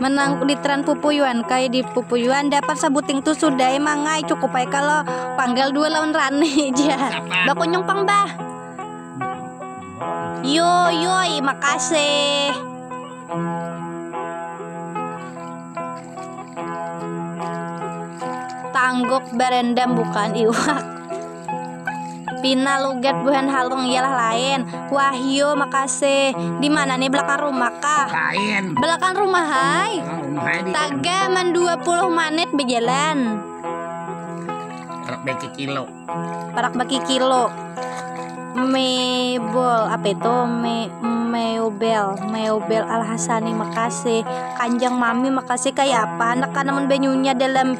menang litran pupuyuan kai di pupuyuan dapat sabuting tu sudah emang ai cukup ai kalau panggal dua lawan rani ja bakunyung pang bah yo yo makasih tangguk berendam bukan iwak Pina lugat buhan halung ialah lain. Wahyu, makasih. Di mana nih belakang rumah kah? Lain. Belakang rumah hai. Taga man 20 menit berjalan. Perak baki kilo. Perak baki kilo. Mebel apa itu? Me Meubel, Meubel Al Hasani makasih. Kanjang Mami makasih kayak apa anak kanamun banyunya dalam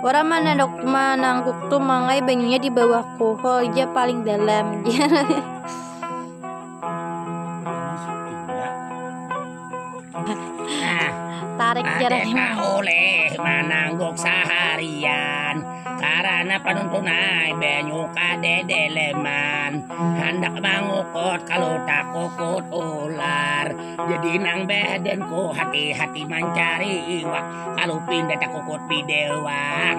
Orang mana dok manangguk tuh mangai banyunya di bawah kohol aja paling dalam. Tarik jaraknya. oleh manangguk seharian karena penuntun air banyu kade deleman hendak mangukut kalau tak kukut ular jadi nang badanku hati-hati mencari iwak Kalau pindah tak kukut bidewang.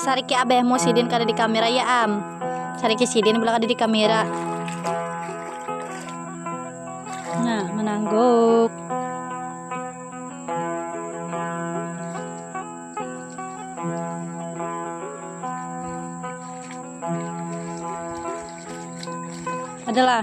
Sariki abahmu sidin kada di kamera ya am. Sariki sidin bela kada di kamera. Nah, menangguk. Adalah